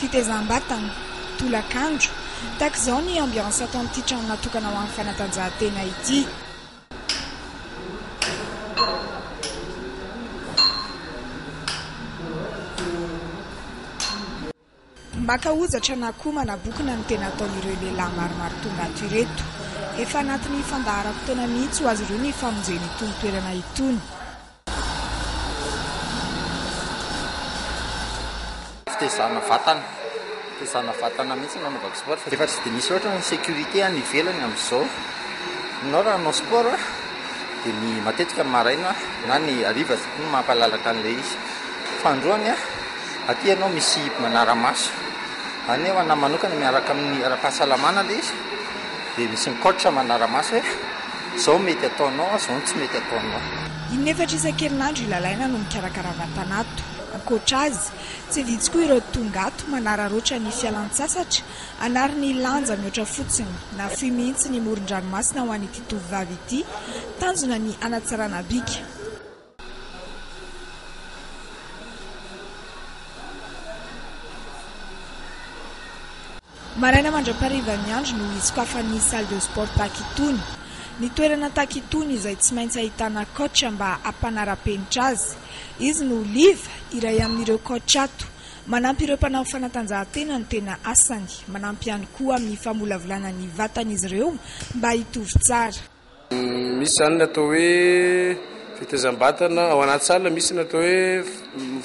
Fitezam-batana, tolakandro, tahaka izao ny ambiance ato amin'ity trano natokana ho an'ny fanatanjahantena ity. Maka hojatra na koa manabokona ny tena ataon'ireo lehilahy maromaro tonga ato ireto. Efa anatin'ny fandaharam-potoana mihitsy ho azy ireo ny famonjena itony toerana itony. Fitaizana vatana, fitaizana vatana mihitsy no anaovako sport fa efa tsy dia misy loatra ny sécurité any ivelany amin'izao. Ianao raha hanao sport dia ny matetika ny maraina na ny hariva no mampalalaka an'ilay izy. Fahandroany an! Aty ianao misy manara-maso. Any nefa anah manokana miaraka amin'ny ara-pahasalamana ilay izy dia misy ny coach manara-maso hoe izao ny mety ataonao, izao ny tsy mety ataonao. Inefatra isan-kerinandro i Lalaina no mikarakara vatanato. Ankoatra azy, tsy vitsy koa ireo tonga ato manararaotra ny fialan-tsasatra hanary ny lanja mihoatra fotsiny. Nahafoy mihitsy ny moron-dranomasina ho an'ity tovovavy ity. Tanjona ny hanatsarana bika. Maraina mandra-parivan'ny andro no hisokafan'ny salle de sport Takitony. Ny toerana Takitony izay tsy maintsy ahitana coach mba hampanara-penitra azy. Izy no Oliva, iray amin'ireo coach ato. Manampy ireo mpanao fanatanjahantena no tena asany. Manampy ihany koa amin'ny famolavolana ny vatan'izy ireo mba hitovy tsara. Misy izany ny atao hoe fetezam-batana ao anaty salle, misy ny atao hoe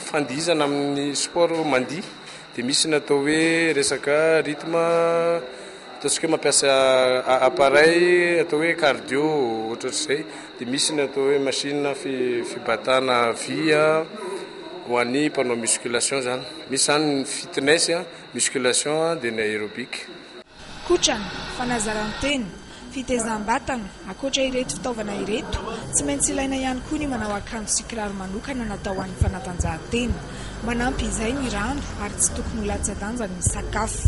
fandihizana amin'ny sport mandihy, dia misy ny atao hoe resaka rythme ataontsika hoe mampiasa appareil atao hoe cardio ohatrohatr'izay, dia misy ny atao hoe machine fibatana vy ho an'ny mpanao musculation izany, misy izany ny fitness, musculation dia ny aerobic. Kotrana, fanazaran-tena, fitezam-batana, ankoatra ireto fitaovana ireto, tsy maintsy ilaina ihany koa ny manao akanjo sy kiraro manokana natao ho an'ny fanatanjahantena. Manampy izay ny rano ary tsy tokony ho latsa-danja ny sakafo.